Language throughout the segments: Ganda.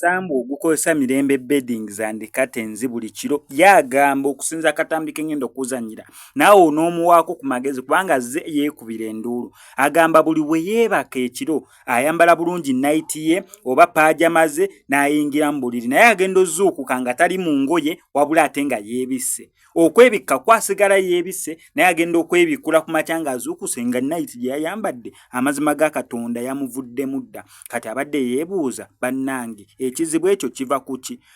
omusambu ogukozesa mirembe beddings and curtains buli kiro yagamba okusinza akatambi kengenda okuzanyira naawe onoomuwaako ku magezi kubanga zze yeekubira enduulu agamba buli bwe yeebaka ekiro ayambala bulungi nayiti ye oba paajama ze n'ayingira mu buliri naye agenda ozuukuka nga tali mu ngoye wabula ate nga yeebisse okwebikka kwasigala yeebisse naye agenda okwebikkula ku makya nga azuukuse nga nayiti gye yayambadde amazima ga katonda yamuvuddemu dda kati abadde yeebuuza bannange ekizibu ekyo kiva ku ki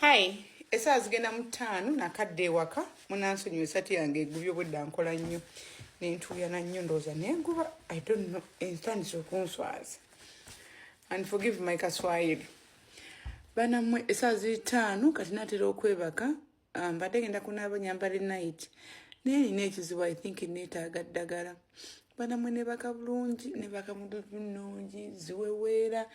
hi esaawa zigenda mu ttaano nakadde ewaka munansonyiwa esati yange egubye obwedda nkola nnyo nentuuyana nnyo ndowooza nenguba i don't know entandisa okunswaza and forgive my kaswayiri banamwe esaawa ziri ttaano kati natera okwebaka Ah, mbadde genda kunaaba nyambale night naye nina ekizibu i think neetaaga ddagala banamwe nebaka bulungi nebaka mududu nnungi ziweweera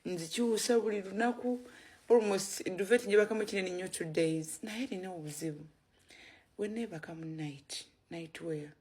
nzikyusa buli lunaku almost duvet njebakamu kinene nnyo two days naye nina obuzibu weneebaka mu night night wear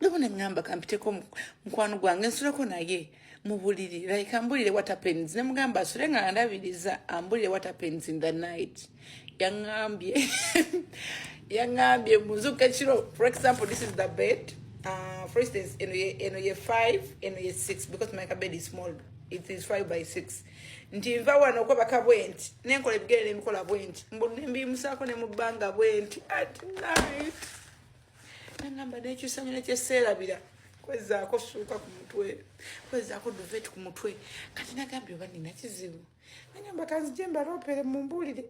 nabo nengamba kampiteko mukwano gwange nsuleko naye mubuliri like ambulire what happens nemugamba asule nga andabiriza ambulire what happens in the night yangambye yangambye muzuka ekiro for example this is the bed uh, for instance eno ye eno ye 5 eno ye 6 because my bed is small it is 5 by 6 nti nva wano okwebaka bwenti nenkola ebigere nemikola bwenti mbu nembimusako nemubanga bwenti at night nangamba nekyusanyo nekyeseerabira kwezaako suuka ku mutwe kwezaako duvet ku mutwe kati nagambye oba nina kizibu nagamba kanzije mbalopere mumbuulire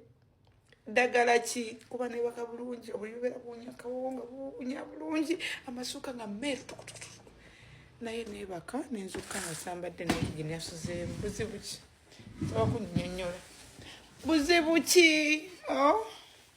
ddagala ki kuba newaka bulungi obuli bubeera buwunya kawowo nga buwunya bulungi amasuuka nga meeru tukutukutu naye nebaka nenzuka nasambadde nayiginasozeemu buzibu ki oba kunyonyola buzibu ki oh?